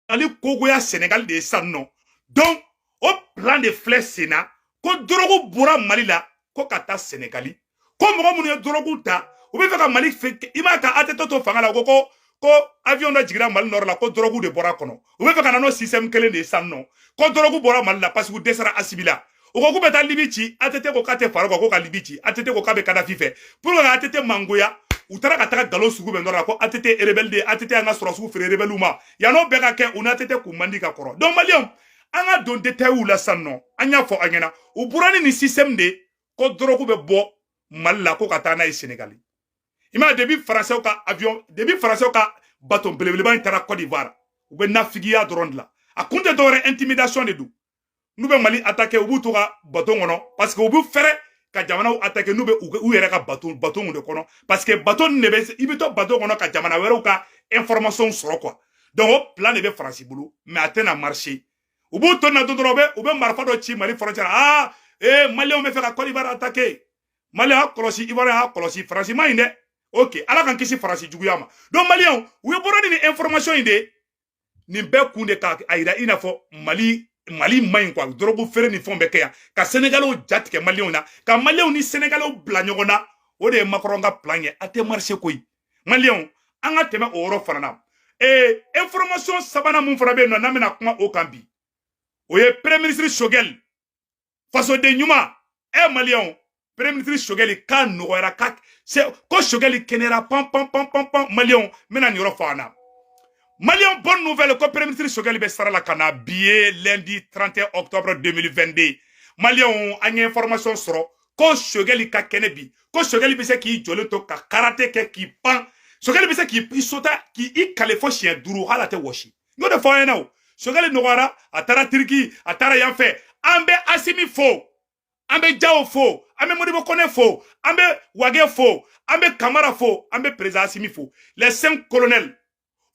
mali kogoya senegal de ye san nɔ donc o plan de filɛ sen na ko dɔrɔgu bɔra mali la ko ka taa senegali ko mɔgɔ minnu ye dɔrɔgu ta u bɛ fɛ ka mali i m'a ka atete to fanga la ko ko ko avion dɔ jigira mali nɔrɔ la ko dɔrɔgu de bɔra kɔnɔ u bɛ fɛ ka na n'o système kelen de ye san nɔ ko dɔrɔgu bɔra mali la parce que u dɛsɛra asimi la o ko k'u bɛ taa libi ci atete ko k'a tɛ fara kan ko ka libi ci atete ko k'a bɛ kadafi fɛ pour que atete mangoya u taara ka taga nkalon sugu bɛɛ da a la ko atete rebɛli de atete an ka sɔrɔdasiw feere rebɛliw ma yann'o bɛɛ ka kɛ u ni atete kun man di ka kɔrɔ donc maliyɛnw an ka don detayiw la sisan nɔ an y'a fɔ aw ɲɛna u bɔra ni nin système de ko dɔrɔku bɛ bɔ mali la ko ka taa n'a ye senegali i m'a depuis faransɛw ka avion depuis faransɛw ka baton belebeleba in taara cote d'ivoire u bɛ nafigiya dɔrɔn de la a kun tɛ dɔwɛrɛ intimidation de don n'u bɛ mali atake u b'u to u ka baton kɔnɔ parce que u bɛ fɛrɛ ka jamanaw atake n'u bɛ u yɛrɛ ka baton baton de kɔnɔ parce que baton de bɛ i bɛ to baton kɔnɔ ka jamana wɛrɛw ka information sɔrɔ quoi donc o plan de bɛ faransi bolo mais a tɛna marcher u b'u to na dɔrɔn u bɛ u bɛ marifa dɔ ci mali frontière la aa ee maliyɛnw bɛ fɛ ka kɔdiwari atake maliyɛnw a y'a kɔlɔsi ivoiriyɛnw a y'a kɔlɔsi faransi man ɲi dɛ ok ala k'an kisi faransi juguya ma donc maliyɛnw u ye bɔra ni nin information in de ye nin bɛɛ kun de ka a yira i n'a fɔ mali mali man ɲi quoi dɔrɔgu feere ni fɛnw bɛ kɛ yan ka senegalew ja tigɛ maliyɛnw na ka maliyɛnw ni senegalew bila ɲɔgɔn na o de ye makɔrɔn ka plan ye a tɛ marcher koyi maliyɛnw an ka tɛmɛ o yɔrɔ fana na ee information sabanan min fana bɛ yen nɔ n'an bɛna kuma o kan bi o ye premier ministre sogɛli fasoden ɲuman e eh, maliyɛnw premier ministre sogɛli k'a nɔgɔyara ka se ko sogɛli kɛnɛyara pan pan pan pan pan maliyɛnw n bɛna nin yɔrɔ fɔ aw ɲɛna maliyɛnw bonne nouvelle ko premier ministre sogɛli bɛ sira la ka na bi ye lundi 31 octobre 2022 maliyɛnw an ye information sɔrɔ ko sogɛli ka kɛnɛ bi ko sogɛli bɛ se k'i jɔlen to ka karate kɛ k'i pan sogɛli bɛ se k'i sota k'i i kale fo siɲɛ duuru hali a tɛ wɔsi n y'o de fɔ aw ɲɛna o sogɛli nɔgɔyara a taara tiriki a taara yan fɛ an bɛ asimi fo an bɛ jaw fo an bɛ modibo kɔnɛ fo an bɛ wage fo an bɛ kamara fo an bɛ président asimi fo les cinq colonels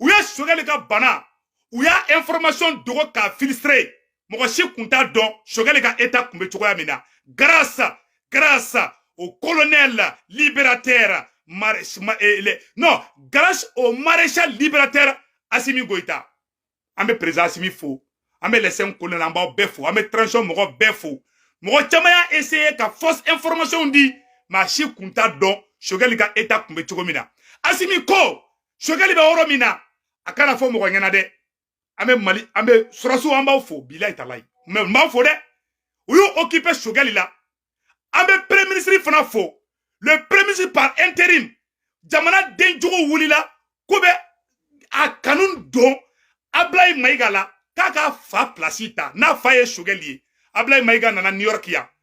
u ye sogɛli ka bana u y'a information dogo k'a filtrer mɔgɔ si kun t'a dɔn sogɛli ka état kun bɛ cogoya min na grâce à grâce au colonel le libérateur eh, non grâce au maréchal libérateur asimi goyita an bɛ président asimi fo an bɛ les cinq colonels an b'aw bɛɛ fo an bɛ transition mɔgɔ bɛɛ fo mɔgɔ caman y'a essayer ka fausse information di maa si kun t'a dɔn sogɛli ka état kun bɛ cogo min na asimi ko sogɛli bɛ yɔrɔ min na a kana fɔ mɔgɔ ɲɛna dɛ an bɛ mali an bɛ sɔrɔsiw an b'aw fo bilayi talayi mɛ n b'aw fo dɛ u y'u okipe sogɛli la an bɛ premier ministre fana fo le premier ministre par interim jamana den jugu wulila k'u bɛ a kanu don ablayi mayiga la k'a k'a fa pilasi ta n'a fa ye sogɛli ye ablayi mayiga nana new york yan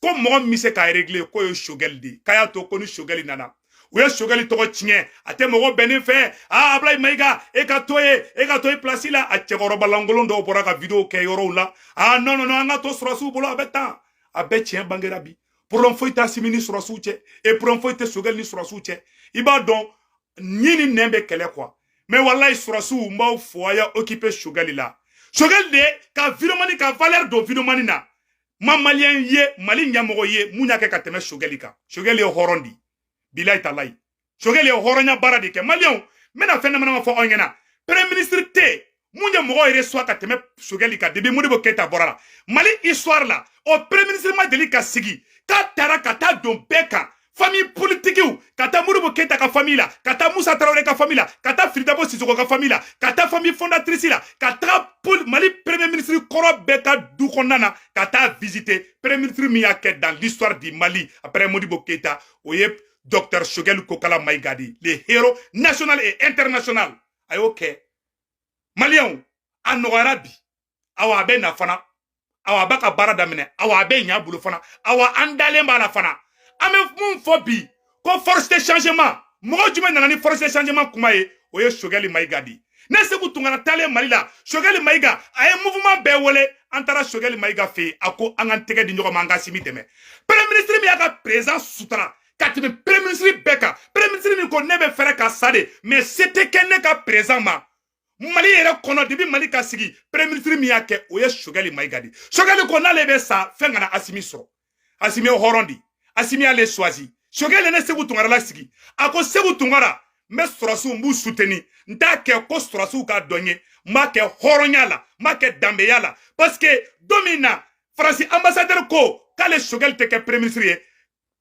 ko mɔgɔ min bɛ se k'a regile k'o ye sogɛli de ye k'a y'a to ko ni sogɛli nana u ye sogɛli tɔgɔ tiɲɛ a tɛ mɔgɔ bɛnnen fɛ aa abulayi mayiga e ka to ye e ka to ye pilasi la a cɛkɔrɔba lankolon dɔw bɔra ka video kɛ yɔrɔw la aa nɔn nɔn an ka to sɔrɔsiw bolo a bɛ tan a bɛɛ tiɲɛ bangera bi problème foyi tɛ asimi ni sɔrɔsiw cɛ e problème foyi tɛ sogɛli ni sɔrɔsiw cɛ i b'a dɔn ɲin ni nɛn bɛ kɛlɛ kuwa mɛ walayi sɔrɔsiw n b'aw fo a y'a okipe sogɛli la sogɛli de ka videomani ka valɛri don videomani na ma maliyɛn ye mali ɲɛmɔgɔ jumɛn y'a kɛ ka tɛmɛ sogɛli kan sogɛli ye hɔrɔn di bilayi talayi sogɛli ye hɔrɔnya baara de kɛ maliyɛnw n bɛna fɛn damadama fɔ aw ɲɛna premier ministre jumɛn ye mɔgɔ resuwa ka tɛmɛ sogɛli kan depuis modibo keyita bɔra la mali histoire la o premier ministre ma deli ka sigi k'a taara ka taa don bɛɛ kan famille politiquew ka taa Modibo Keïta ka famille la ka taa Moussa Traoré ka famille la ka taa Fily Dabo Sissoko ka famille la ka taa famille fondatrice la ka taa Mali premier ministre kɔrɔ bɛɛ ka du kɔnɔna ka taa visiter premier ministre min y'a kɛ dans l'histoire du Mali après Modibo Keïta o ye docteur Choguel Kokala Maïga di le héros national et international a y'o kɛ maliyɛnw a nɔgɔyara bi awa a bɛ na fana awa a b'a ka baara daminɛ awa a bɛ ɲa a bolo fana awa an dalen b'a la fana an bɛ mun fɔ bi ko force de changement mɔgɔ jumɛn nana ni force de changement kuma ye o ye sogɛli mayiga di ne seku tunkara taalen mali la sogɛli mayiga a ye mouvement bɛɛ wele an taara sogɛli mayiga fɛ yen a ko an k'an tɛgɛ di ɲɔgɔn ma an k'asimi dɛmɛ premier ministre min y'a ka président sutura ka tɛmɛ premier ministre bɛɛ kan premier ministre min ko ne bɛ préférer ka sa de mais se tɛ kɛ ne ka président ma mali yɛrɛ kɔnɔ depuis mali ka sigi premier ministre min y'a kɛ o ye sogɛli mayiga di sogɛli ko n'ale bɛ sa fɛn kana asimi sɔrɔ asimi ye hɔrɔn di asimi y'ale suwazi sogɛli ne seku tunkara lasigi a ko seku tunkara n bɛ sɔrɔsiw n b'u suteni n t'a kɛ ko sɔrɔsiw ka di n ye n b'a kɛ hɔrɔnya la n b'a kɛ danbeya la parce que don min na faransi ambassadɛri ko k'ale sogɛli tɛ kɛ premier ministre ye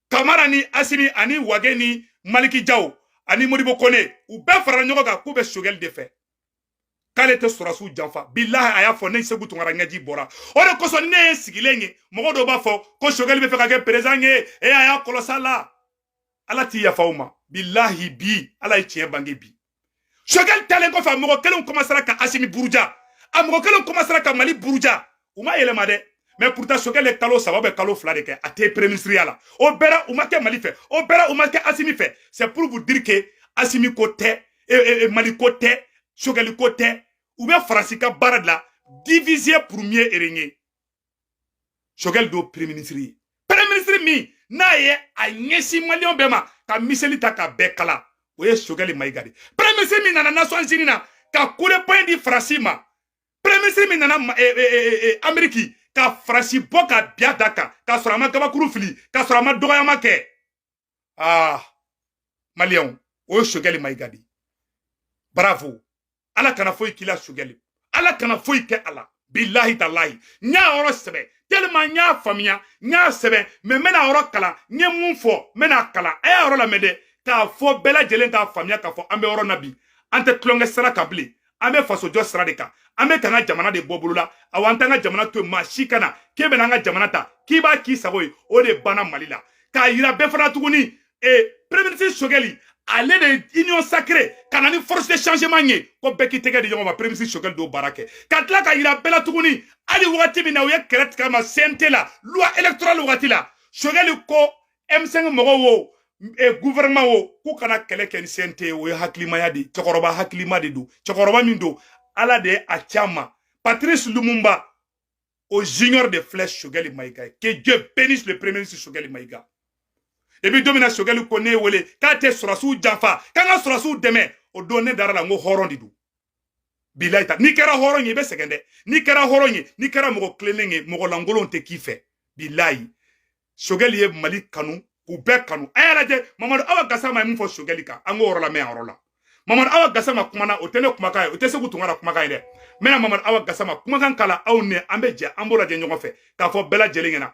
kamara ni asimi ani wage ni maliki jaw ani modibo kone u bɛɛ farala ɲɔgɔn kan k'u bɛ sogɛli de fɛ k'ale tɛ sɔrɔsiw janfa bilahi a y'a fɔ ne seku tunkara ɲɛji bɔra o de kosɔn ne ye sigilen ye mɔgɔ dɔw b'a fɔ ko sogɛli bɛ fɛ ka kɛ perezan ye e a y'a kɔlɔsi ala ala tɛ yafa aw ma bilahi bi ala ye tiɲɛ bange bi sogɛli talen kɔfɛ a mɔgɔ kelenw kɔmansera ka asimi buruja a mɔgɔ kelenw kɔmansera ka mali buruja u ma yɛlɛma dɛ mais pourtant sogɛli ye kalo saba bɛ kalo fila de kɛ a tɛ pereminisiriya la o bɛɛ ra u ma kɛ mali fɛ o bɛɛ ra u ma kɛ asimi fɛ c'est pour vous dire que asimi ko tɛ e, e, e, mali ko tɛ sogɛli ko tɛ u bɛ faransi ka baara de la diviser pour mieux régner sogɛli don pereminisiri ye pereminisiri min n'a ye a ɲɛsin maliyɛnw bɛɛ ma ka miseli ta ka bɛɛ kala o ye sogɛli mayiga de pereminisiri min nana nasiyɔn zini na ka coup de poing di faransi ma pereminisiri min nana ameriki ka faransi bɔ k'a bin a da kan k'a sɔrɔ a ma gabakuru fili k'a sɔrɔ a ma dɔgɔyama kɛ aa maliyɛnw o ye sogɛli mayiga de ye bravo ala kana foyi k'i la sogɛli ala kana foyi kɛ a la bilahi talahi n y'a yɔrɔ sɛbɛn tellement n y'a faamuya n y'a sɛbɛn mais n bɛna a yɔrɔ kalan n ye mun fɔ n bɛn'a kalan a y'a yɔrɔ lamɛn dɛ k'a fɔ bɛɛ lajɛlen k'a faamuya k'a fɔ an bɛ yɔrɔ na bi an tɛ tulonkɛ sira kan bilen an bɛ fasojɔ sira de kan an bɛ k'an ka jamana de bɔ bolo la awa an t'an ka jamana to yen maa si kana k'e bɛna an ka jamana ta k'i b'a k'i sago ye o de banna mali la k'a yira bɛɛ fana tuguni ee premier ministre sogɛli ale de union sacrée ka na ni force de changement ye ko bɛɛ k'i tɛgɛ di ɲɔgɔn ma premier ministre sogɛli don baara kɛ ka tila k'a yira bɛɛ la tuguni hali wagati min na u ye kɛlɛ tigɛ a ma cnt la loi électorale wagati la sogɛli ko M5 mɔgɔw wo gouvernement wo k'u kana kɛlɛ kɛ ni CNT o ye hakilimaya de ye cɛkɔrɔba hakilima de don cɛkɔrɔba min don ala de ye a ci an ma Patrice Lumumba o junior de filɛ Choguel Maïga. Que Dieu bénisse le premier ministre Choguel Maïga. Et puis don min na Choguel ko ne wele k'a tɛ sɔrɔdasiw janfa k'an ka sɔrɔdasiw dɛmɛ o don ne dara a la n ko hɔrɔn de don bilayi ta n'i kɛra hɔrɔn ye i bɛ sɛgɛn dɛ n'i kɛra hɔrɔn ye n'i kɛra mɔgɔ tilennen ye mɔgɔ lankolonw tɛ k'i fɛ bilayi sogɛli ye mali kanu k'u bɛɛ kanu a y'a lajɛ mamadu awa gasama ye min fɔ sogɛli kan an k'o yɔrɔ lamɛn a yɔrɔ la mamadu awa gasama kumana o tɛ ne kumakan ye o tɛ seku tunkara kumakan ye dɛ n bɛna mamadu awa gasama kumakan k'a la aw ni an bɛ jɛ an b'o lajɛ ɲɔgɔn fɛ k'a fɔ bɛɛ lajɛlen ɲɛna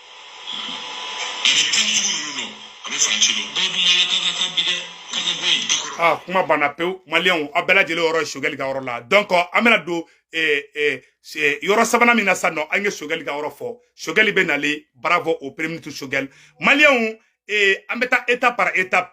Ah, kuma banna pewu maliyɛnw aw bɛɛ lajɛlen yɔrɔ ye sogɛli ka yɔrɔ la donc an bɛna don eh, eh, eh, yɔrɔ sabanan min na sisan nɔ an ye sogɛli ka yɔrɔ fɔ sogɛli bɛ nalen bravo au premier ministre sogɛli maliyɛnw an bɛ taa étape par étape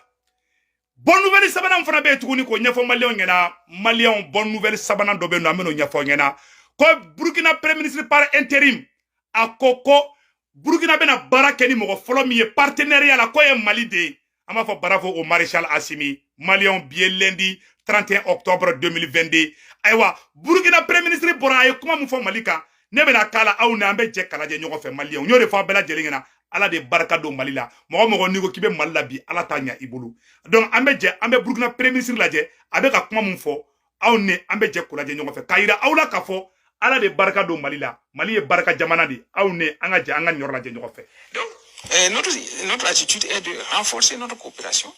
bonne nouvelle sabanan fana bɛ yen tuguni k'o ɲɛfɔ maliyɛnw ɲɛna maliyɛnw bonne nouvelle sabanan dɔ bɛ yen nɔ an bɛn'o ɲɛfɔ ɲɛna ko burukina premier ministre par interim a ko ko burukina bɛna baara kɛ ni mɔgɔ fɔlɔ min ye partenariat la k'o ye mali de ye an b'a fɔ bravo au maréchal asimi maliyɛnw bi ye lundi 31 octobre 2022 ayiwa burukina premier ministre bɔra a ye kuma min fɔ mali kan ne bɛna k'a la aw ni an bɛ jɛ k'a lajɛ ɲɔgɔn fɛ maliyɛnw n y'o de fɔ aw bɛɛ lajɛlen ɲɛna ala de barika don mali la mɔgɔ mɔgɔ n'i ko k'i bɛ mali la bi ala t'a ɲa i bolo donc an bɛ jɛ an bɛ burukina preminisiri lajɛ a bɛ ka kuma min fɔ aw ni an bɛ jɛ k'o lajɛ ɲɔgɔn fɛ k'a yira aw la k'a fɔ ala de barika don mali la mali ye barika jamana de aw ni an ka jɛ an ka nin yɔrɔ lajɛ ɲɔgɔn fɛ donc euh, notre, notre attitude est de renforcer notre coopération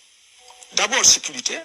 d'abord sécuritaire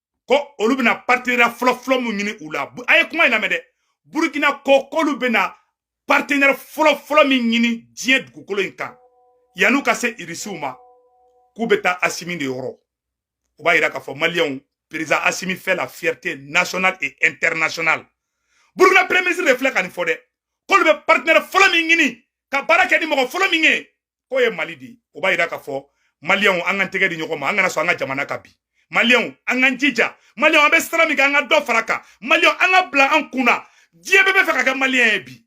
ko olu bɛna partenariat fɔlɔfɔlɔ min ɲini u la a ye kuma in lamɛn dɛ burukina ko k'olu bɛna partenaire fɔlɔfɔlɔ min ɲini diɲɛ dugukolo in kan yan'u ka se irisiw ma k'u bɛ taa asimi de yɔrɔ o b'a yira k'a fɔ maliyɛnw président asimi fait la fierté nationale et internationale burukina premier ministre de filɛ ka nin fɔ dɛ k'olu bɛ partenaire fɔlɔ min ɲini ka baara kɛ ni mɔgɔ fɔlɔ min ye k'o ye mali de ye o b'a yira k'a fɔ maliyɛnw an ka tɛgɛ di ɲɔgɔn ma an kana sɔn an ka jamana ka bin maliyɛnw an k'an jija maliyɛnw an bɛ sira min kɛ an ka dɔ fara a kan maliyɛnw an k'a bila an kun na diɲɛ bɛɛ bɛ fɛ ka kɛ maliyɛn ye bi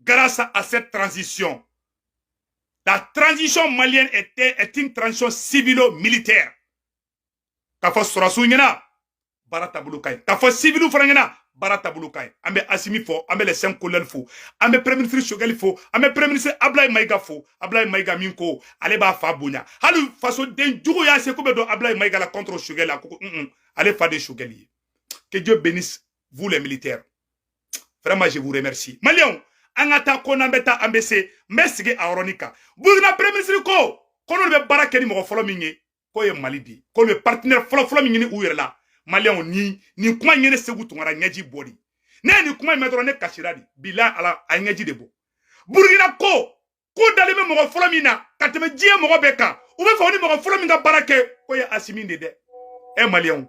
grâce à cette transition la transition malienne est, est une transition civilo-militaire k'a fɔ sɔrɔdasiw ɲɛna baara taabolo ka ɲi k'a fɔ siviliw fana ɲɛna baara taabolo ka ɲi an bɛ asimi fo an bɛ les cinq colonels fo an bɛ premier ministre sogɛli fo an bɛ premier ministre abulayi mayiga fo abulayi mayiga min ko ale b'a fa bonya hali fasoden jugu y'a seko bɛɛ don abulayi mayiga la contre sogɛli a ko ko un ale fa de sogɛli ye que dieu bénisse vous les militaires vraiment je vous remercie maliyɛnw an ka taa ko n'an bɛ taa an bɛ se n bɛ segin a yɔrɔnin kan burukina premier ministre ko ko n'olu bɛ baara kɛ ni mɔgɔ fɔlɔ min ye k'o ye mali de ye k'olu bɛ partenaire fɔlɔfɔlɔ min ɲini u yɛrɛ la maliyɛnw nin kuma in ye ne seku tunkara ɲɛji bɔ de ne ye nin kuma in mɛn dɔrɔn ne kasira de bila ala a ye ɲɛji de bɔ burukina ko k'u dalen bɛ mɔgɔ fɔlɔ min na ka tɛmɛ diɲɛ mɔgɔ bɛɛ kan u bɛ fɛ u ni mɔgɔ fɔlɔ min ka baara kɛ k'o ye asimi de dɛ ɛ maliyɛnw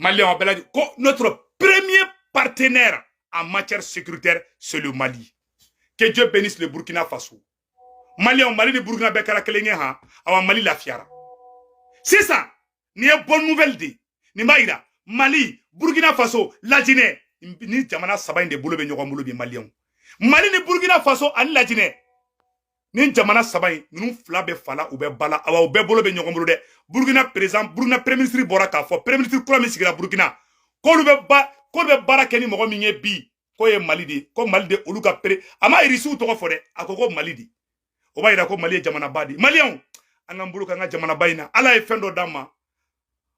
Maliyɛnw a b'a la ko notre premier partenaire en matière sécuritaire c'est le Mali que Dieu bénisse le Burkina Faso Maliyɛnw Mali ni Burkina bɛɛ kɛra kelen ye han awa Mali lafiyara sisan nin ye bonne nouvelle de ye nin b'a yira Mali Burkina Faso Lajinɛ nin jamana saba in de bolo bɛ ɲɔgɔn bolo bi Maliyɛnw Mali ni Burkina Faso ani Lajinɛ nin jamana saba in ninnu fila bɛ fa la u bɛ ba la awa u bɛɛ bolo bɛ ɲɔgɔn bolo dɛ burukina par exemple burukina pereminisiri bɔra k'a fɔ pereminisiri kura min sigira burukina k'olu bɛ ba k'olu bɛ baara kɛ ni mɔgɔ min ye bi k'o ye mali de ye ko mali de olu ka pere a ma irisiw tɔgɔ fɔ dɛ a ko ko mali de o b'a yira ko mali ye jamanaba de ye maliyɛnw an k'an bolo k'an ka jamanaba in na ala ye fɛn dɔ d'an ma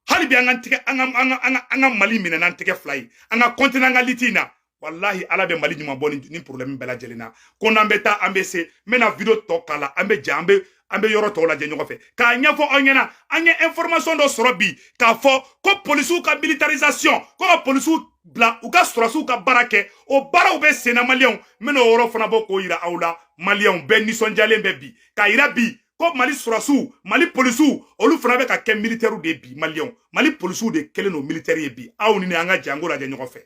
hali bi an ka tigɛ an ka an ka an ka an ka mali minɛ n'an tɛgɛ fila ye an ka continuer an ka lutte in na walahi ala bɛ mali ɲuman bɔ nin porobilɛmu bɛɛ lajɛlen na ko n'an bɛ taa an bɛ se n bɛna video tɔ k'a la an bɛ jɛ an bɛ an bɛ yɔrɔ tɔw lajɛ ɲɔgɔn fɛ k'a ɲɛfɔ aw ɲɛna an ye information dɔ sɔrɔ bi k'a fɔ ko polisiw ka militarisation ko ka polisiw bila u ka sɔrɔdasiw ka baara kɛ o baaraw bɛ senna maliyɛnw n bɛna o yɔrɔ fana bɔ k'o yira aw la maliyɛnw bɛɛ nisɔndiyalen bɛ bi k'a yira bi ko mali sɔrɔdasiw mali polisiw olu fana bɛ ka kɛ militɛriw de bi maliyɛnw mali polisiw de kɛlen don militɛri ye bi aw ni ne an ka jɛ k'o lajɛ ɲɔgɔn fɛ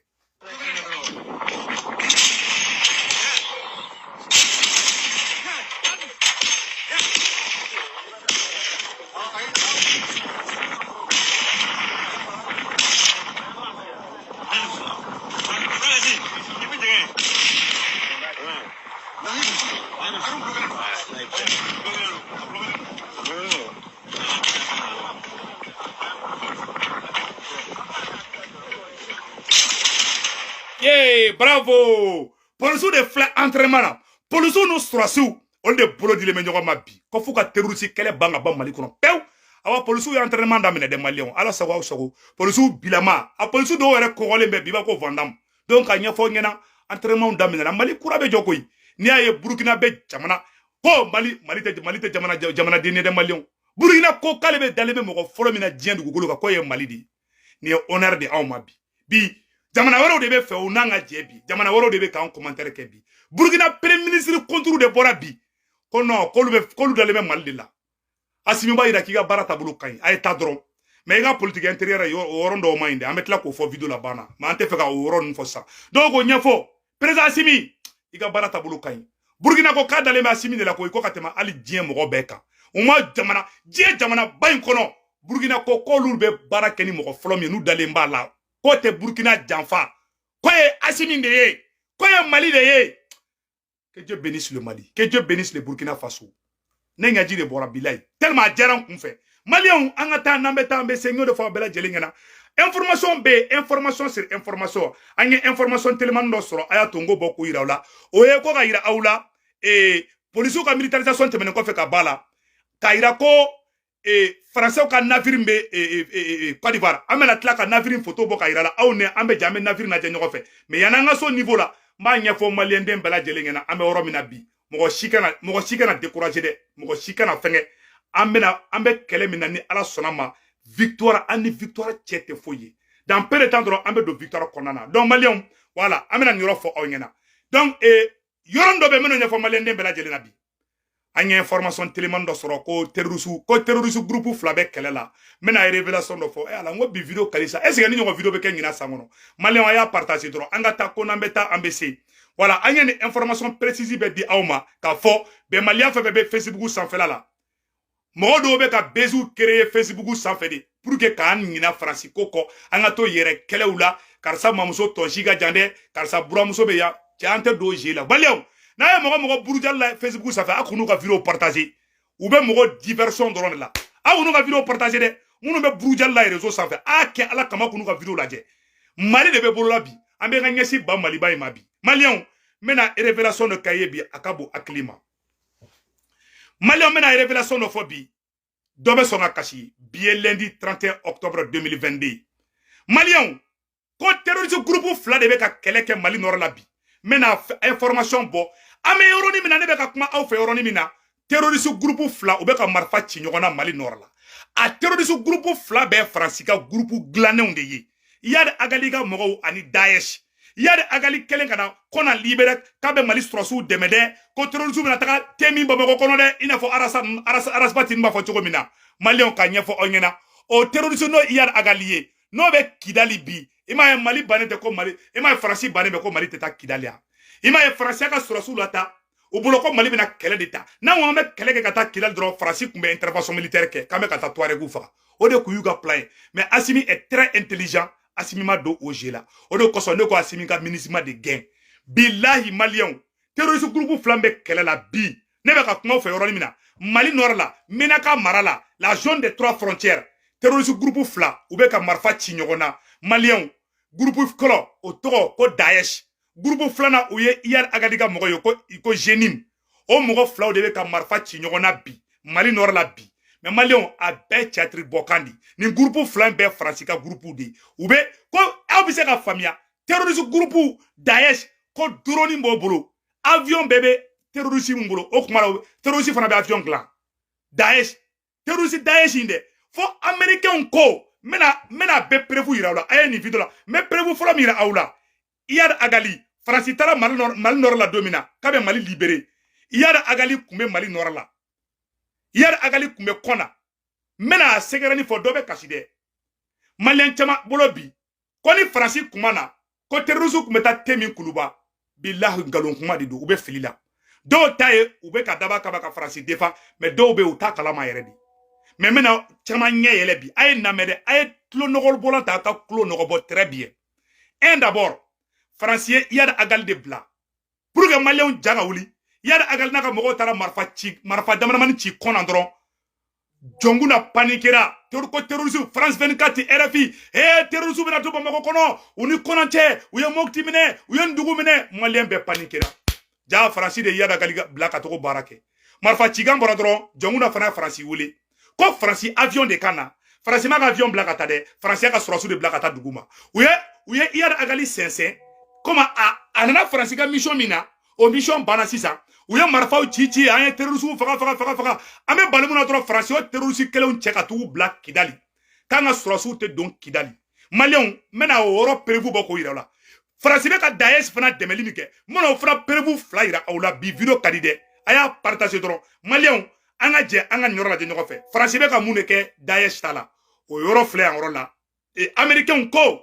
Yee bravo polisiw de filɛ entraînement na polisiw n'u sɔrɔdasiw olu de bolo dilen bɛ ɲɔgɔn ma bi ko f'u ka terrorisi kɛlɛ ban k'a ban mali kɔnɔ pewu awa polisiw ye entraînement daminɛ dɛ maliyɛnw ala sago aw sago polisiw bilama a polisiw dɔw yɛrɛ kɔgɔlen bɛ bi b'a ko Van Damme donc k'a ɲɛfɔ aw ɲɛna entraînementw daminɛna mali kura bɛ jɔ koyi n'i y'a ye burukina bɛ jamana ko mali mali tɛ mali tɛ jamana jamanadennin ye dɛ maliyɛnw burukina ko k'ale bɛ dalen bɛ mɔgɔ fɔlɔ min na diɲɛ dugukolo kan k'o ye mali de ye nin ye honneur de anw ma bi bi jamana wɛrɛw de b'a fɛ u n'an ka jɛ bi jamana wɛrɛw de bɛ k'an commentaire kɛ bi burukina premier ministre contre de bɔra bi ko non k'olu bɛ k'olu dalen bɛ mali de la asimi b'a yira k'i ka baara taabolo ka ɲi a ye taa dɔrɔn mais i ka politiki intérieure ye o yɔrɔnin dɔw man ɲi dɛ an bɛ tila k'o fɔ video laban na mais an t'a fɛ ka o yɔrɔ ninnu fɔ sisan donc k'o ɲɛfɔ président asimi i ka baara taabolo ka ɲi burukina ko k'a dalen bɛ asimi de la ko i ko ka tɛmɛ hali diɲɛ mɔgɔ bɛɛ kan u ma jamana diɲɛ jamanaba in kɔnɔ burukina ko k'olu bɛ baara kɛ ni mɔgɔ fɔlɔ min ye n'u dalen b'a la k'o tɛ burukina janfa k'o ye asimi de ye k'o ye mali de ye que Dieu bénisse le Mali que Dieu bénisse le Burkina Faso ne ɲaji de bɔra bilayi tellement a diyara n kun fɛ maliyɛnw an ka taa n'an bɛ taa an bɛ se n y'o de fɔ aw bɛɛ lajɛlen ɲɛna information bɛ yen information sur information an ye information telimani dɔ sɔrɔ a y'a to n k'o bɔ k'o yira aw la o ye ko k'a yira aw la ee polisiw ka militarisation tɛmɛnen kɔfɛ ka b'a la k'a yira ko e, faransiw ka navire bɛ e, e, e, kɔdiwari an bɛna tila ka navire foto bɔ k'a yira aw la aw ni an bɛ jɛ an bɛ navire lajɛ ɲɔgɔn fɛ mais yanni an ka se o niveau la n b'a ɲɛfɔ maliyɛnden bɛɛ lajɛlen ɲɛna an bɛ yɔrɔ min na bi mɔgɔ si kana mɔgɔ si kana dekuraze dɛ mɔgɔ si kana fɛngɛ an bɛna an bɛ kɛlɛ min na ni ala sɔnna a ma victoire an ni victoire cɛ tɛ foyi ye dans peu de temps dɔrɔn an bɛ don victoire kɔnɔna na donc maliyɛnw voilà an bɛna nin yɔrɔ fɔ aw ɲɛna donc yɔrɔ dɔ bɛ minnu ɲɛfɔ maliyɛnden bɛɛ lajɛlen na bi an ye information teliman dɔ sɔrɔ ko terroriste ko terroriste groupe fila bɛ kɛlɛ la n bɛna révélation dɔ fɔ e ala n ko bi video kalisa est ce que nin ɲɔgɔn video bɛ kɛ ɲina san kɔnɔ maliyɛnw a y'a partage dɔrɔn an ka taa ko n'an bɛ taa an bɛ se wala an ye nin information précise bɛɛ di aw ma k'a fɔ bɛɛ maliyɛn fɛn fɛn bɛ facebook sanfɛla la mɔgɔ dɔw bɛ ka beziw kereye fesibuku sanfɛ de pour que k'an ɲina faransi ko kɔ an ka to yɛrɛ kɛlɛw la karisa mamuso tɔnsi ka jan dɛ karisa buranmuso bɛ yan cɛ an tɛ don jeu la maliyɛnw n'a ye mɔgɔ mɔgɔ burujali la fesibuku sanfɛ a kan'u ka video partage u bɛ mɔgɔ diversion dɔrɔn de la a kan'u ka video partage dɛ minnu bɛ burujali la reseau sanfɛ a kɛ ala kama kan'u ka video lajɛ mali de bɛ bolola bi an bɛ ka ɲɛsin ba maliba in ma bi maliyɛnw n bɛna revelation dɔ k'aw ye bi a ka bon hakili ma maliyɛnw n bɛna révélation dɔ fɔ bi dɔ bɛ sɔn ka kasi bi ye lundi 31 octobre 2022 maliyɛnw ko terroriste groupe fila de bɛ ka kɛlɛ kɛ mali nɔrɔ la bi n bɛna information bɔ an bɛ yɔrɔnin min na ne bɛ ka kuma aw fɛ yɔrɔnin min na terroriste groupe fila u bɛ ka marifa ci ɲɔgɔn na mali nɔrɔ la a terroriste groupe fila bɛɛ faransi ka groupe dilannenw de ye iyad agali ka mɔgɔw ani daesh iyad agali kɛlen ka na kɔna libere k'a bɛ mali sɔrɔsiw dɛmɛ dɛ ko terorisiw bɛna taga te min bamakɔ kɔnɔ dɛ i n'a fɔ ras bath in b'a fɔ cogo min na maliyɛnw n k'a ɲɛfɔ aw ɲɛna o terorisi n'o iyad agali ye n'o bɛ kidali bi i m'a ye mali bannen tɛ ko mali i m'a ye faransi bannen bɛ ko mali tɛ taa kidali yan i m'a ye faransi y'a ka sɔrɔsiw lata u bolo ko mali bɛna kɛlɛ de ta n'an ko an bɛ kɛlɛ kɛ ka taa kidali dɔrɔn faransi tun bɛ intervention militaire kɛ k'an bɛ ka taa tuaregu faga o de tun y'u ka plan ye mais asimi est très intelligent asimi ma don o jeu la o de kosɔn ne ko asimi ka minusma de gɛn bilahi maliyɛnw terroriste groupe fila bɛ kɛlɛ la bi ne bɛ ka kuma aw fɛ yɔrɔnin min na mali nɔrɔ la menaka mara la la zone des trois frontières terroriste groupe fila u bɛ ka marifa ci ɲɔgɔn na maliyɛnw groupe fɔlɔ o tɔgɔ ko daesh gurupu filanan o ye iyad agali ka mɔgɔ ye ko ko jnim o mɔgɔ filaw de bɛ ka marifa ci ɲɔgɔn na bi mali nɔrɔ la bi mais maliyɛnw a bɛɛ tiyatiri bɔkan de nin gurupu fila in bɛɛ faransi ka gurupuw de u bɛ ko aw bɛ se k'a faamuya terorisi gurupuw daesh ko doroni b'o bolo avion bɛɛ bɛ terorisi min bolo o kuma la terorisi fana bɛ avion dilan daesh terroriste daesh in dɛ fo américainw ko n bɛna n bɛna bɛɛ perefu yira aw la a ye nin video la n bɛ perefu fɔlɔ min yira aw la iyad agali faransi taara mali nɔrɔ mali nɔrɔ la don min na k'a bɛ mali libere iyad agali tun bɛ mali nɔrɔ la iyad agali tun bɛ kɔna n bɛna a secret nin fɔ dɔ bɛ kasi dɛ maliyɛn caman bolo bi ko ni faransi kuma na ko terrorisi tun bɛ taa tɛmɛ kuluba bilahi nkalon kuma de don u bɛ fili la dɔw t'a ye u bɛ ka daba kaba ka faransi defan mɛ dɔw bɛ yen u t'a kalama yɛrɛ de mɛ n bɛna caman ɲɛ yɛlɛ bi a ye n lamɛn dɛ a ye tulo nɔgɔbɔlan ta a ka tulo nɔgɔbɔ très bien un d'abord faransi ye iyad agali de bila pour que maliyɛnw ja ka wuli iyad agali n'a ka mɔgɔw taara marifa ci marifa damadamani ci kɔna dɔrɔn jɔnkunda panikera ko terrorisiw france 24 ti rfi e terrorisiw bɛna don bamakɔ kɔnɔ u ni kɔna cɛ u ye mopti minɛ u ye ndugu minɛ maliyɛn bɛɛ panikera ja faransi de ye iyad agali bila ka taa o baara kɛ marifa cikan bɔra dɔrɔn jɔnkunda fana faransi wele ko faransi avion de ka na faransi m'a ka avion bila ka taa dɛ faransi y'a ka sɔrɔsiw de bila ka taa dugu ma u ye u ye iyad agali sɛnsɛn komi a nana faransi ka mission min na o mission banna sisan u ye marifaw ci ci an ye terrorisiw faga faga faga faga an bɛ bali mun na dɔrɔn faransi y'o terrorisi kelenw cɛ ka taa u bila kidali k'an ka sɔrɔsiw tɛ don kidali maliyɛnw n bɛna o yɔrɔ perewu bɔ k'o yira aw la faransi bɛ ka dayɛsi fana dɛmɛli min kɛ n bɛna o fana perewu fila yira aw la bi video ka di dɛ a y'a partage dɔrɔn maliyɛnw an ka jɛ an ka nin yɔrɔ lajɛ ɲɔgɔn fɛ faransi bɛ ka mun de kɛ dayɛsi ta la o yɔrɔ filɛ yan yɔrɔ la amerikɛnw ko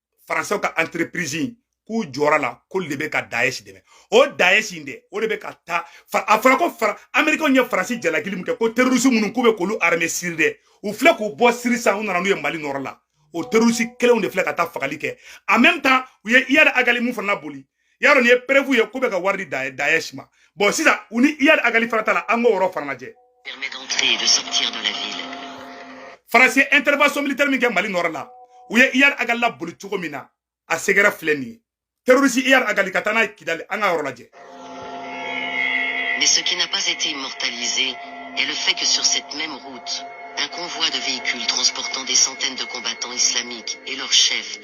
faransɛw ka entreprise k'u jɔra a la k'olu de bɛ ka dayɛsi dɛmɛ o dayɛsi in dɛ o de bɛ ka taa a fɔra ko fara amerikɛnw ye faransi jalakili min kɛ ko terorisi minnu k'u bɛ k'olu arame siri dɛ u filɛ k'u bɔ siri sisan u nana n'u ye mali nɔrɔ la o terorisi kelenw de filɛ ka taa fagali kɛ en même temps u ye iyad agali minw fana laboli y'a dɔn nin ye perefu ye k'u bɛ ka wari di daɛsh ma bɔn sisan u ni iyad agali fana ta la an k'o yɔrɔ fana lajɛ faransi ye intervention militaire min kɛ mali nɔrɔ la u ye iyad agali laboli cogo min na a secret filɛ nin ye terroriste iyad agali ka taa n'a ye kidali an ka yɔrɔ lajɛ Mais ce qui n'a pas été immortalisé est le fait que sur cette même route, un convoi de véhicules transportant des centaines de combattants islamiques et leurs chefs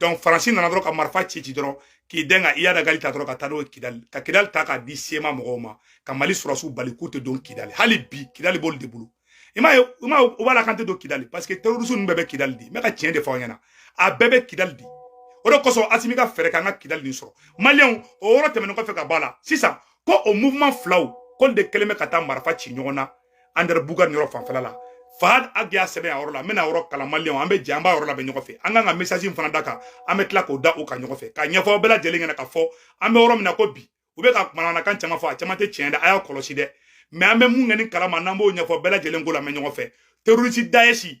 donc faransi nana dɔrɔn ka marifa ci ci dɔrɔn k'i dɛn ka iyad agali ta dɔrɔn ka taa n'o ye kidali ka kidali ta k'a di cma mɔgɔw ma ka mali sɔrɔsiw bali k'u tɛ don kidali hali bi kidali b'olu de bolo i m'a ye i m'a ye u b'a la k'an tɛ don kidali parce que terroriste ninnu bɛɛ bɛ kidali de n bɛ ka tiɲɛ de fɔ aw ɲɛna a bɛɛ bɛ kidali de o de kosɔn asimi ka fɛɛrɛ k'an ka kidali nin sɔrɔ maliyɛnw o yɔrɔ tɛmɛnen kɔfɛ ka bɔ a la sisan ko o mouvement filaw k'olu de kɛlen bɛ ka taa marifa ci ɲɔgɔn na andɛrɛbukani yɔrɔ fanfɛla la fahad ag y'a sɛbɛn a yɔrɔ la n bɛna yɔrɔ kalan maliyɛnw an bɛ jɛ an b'a yɔrɔ lamɛn ɲɔgɔn fɛ an kan ka message in fana da a kan an bɛ tila k'o da o kan ɲɔgɔn fɛ k'a ɲɛfɔ aw bɛɛ lajɛlen ɲɛna k'a fɔ an bɛ yɔrɔ min na ko bi u bɛ ka manamanakan caman fɔ a caman tɛ tiɲɛ dɛ a y'a kɔlɔsi dɛ mɛ an bɛ mun kɛ ni kalama n'an b'o ɲɛfɔ bɛɛ lajɛlen k'o lamɛn ɲɔgɔn fɛ terrorisi dayɛsi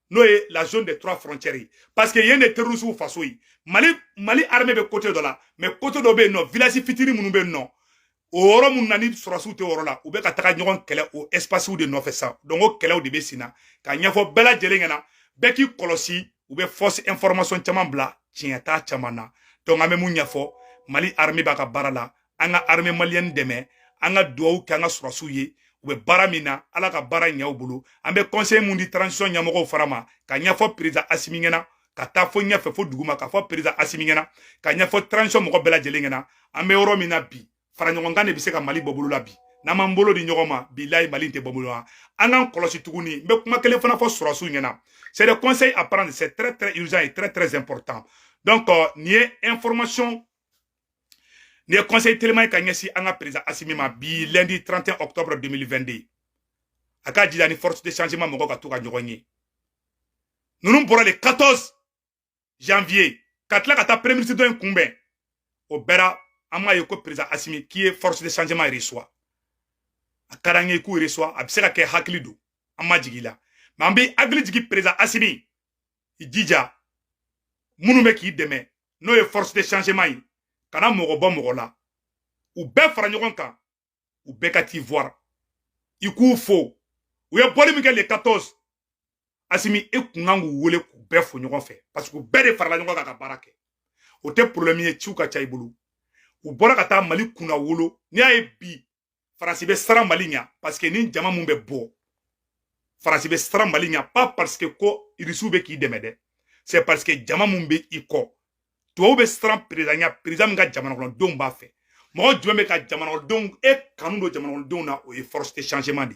n'o ye la zone des trois frontières ye parce que yen de terrorisiw faso ye mali mali armée bɛ côté dɔ la mais côté dɔ bɛ yen nɔ village fitini minnu bɛ yen nɔ o yɔrɔ minnu na ni sɔrɔsiw tɛ yɔrɔ la u bɛ ka taga ɲɔgɔn kɛlɛ o espacew de nɔfɛ sisan donc o kɛlɛw de bɛ sen na k'a ɲɛfɔ bɛɛ lajɛlen ɲɛna bɛɛ k'i kɔlɔsi u bɛ fausse information caman bila tiɲɛ t'a caman na donc an bɛ mun ɲɛfɔ mali armée b'a ka baara la an ka armée malienne dɛmɛ an ka duwawu kɛ an ka sɔrɔsiw ye u bɛ baara min na ala ka baara ɲɛ u bolo an bɛ conseil mun di transition ɲɛmɔgɔw fana ma k'a ɲɛfɔ président asimi ɲɛna ka taa fo ɲɛfɛ fo duguma k'a fɔ président asimi ɲɛna k'a ɲɛfɔ transition mɔgɔ bɛɛ lajɛlen ɲɛna an bɛ yɔrɔ min na bi fara ɲɔgɔnkan de bɛ se ka mali bɔ bɔlɔ la bi n'an m'an bolo di ɲɔgɔn ma bilayi mali tɛ bɔ bɔlɔ la an k'an kɔlɔsi tuguni n bɛ kuma kelen fana fɔ sɔrɔsiw ɲɛna c'est le conseil à prendre c'est très très urgent et très très important donc euh, nin ye information nin ye conseil teliman ye ka ɲɛsin an ka président asimi ma bi lundi 31 octobre 2022 a k'a jija ni force de changement mɔgɔw ka to ka ɲɔgɔn ye ninnu bɔra le 14 janvier ka tila ka taa premier ministre dɔ in kunbɛn o bɛɛ la an m'a ye ko président asimi k'i ye force de changement reçoit a ka d'an ye k'u reçoit a bɛ se ka kɛ hakili don an ma jigin la mais an bɛ hakili jigin président asimi i jija minnu bɛ k'i dɛmɛ n'o ye force de changement ye kana mɔgɔ bɔ mɔgɔ la u bɛɛ fara ɲɔgɔn kan u bɛɛ ka t'i voir i k'u fo u ye bɔli min kɛ le 14 asimi e kun kan k'u wele k'u bɛɛ fo ɲɔgɔn fɛ parce que u bɛɛ de farala ɲɔgɔn kan ka baara kɛ o tɛ problème ye ciw ka ca i bolo u bɔra ka taa mali kunnawolo n'i y'a ye bi faransi bɛ siran mali ɲa parce que ni jama min bɛ bɔ faransi bɛ siran mali ɲa pas parce que ko irisiw bɛ k'i dɛmɛ dɛ c'est parce que jama min bɛ i kɔ tubabuw bɛ siran perezan ɲa perezan min ka jamanakɔnɔdenw b'a fɛ mɔgɔ jumɛn bɛ ka jamanakɔnɔdenw e kanu don jamanakɔnɔdenw na o ye force de changement de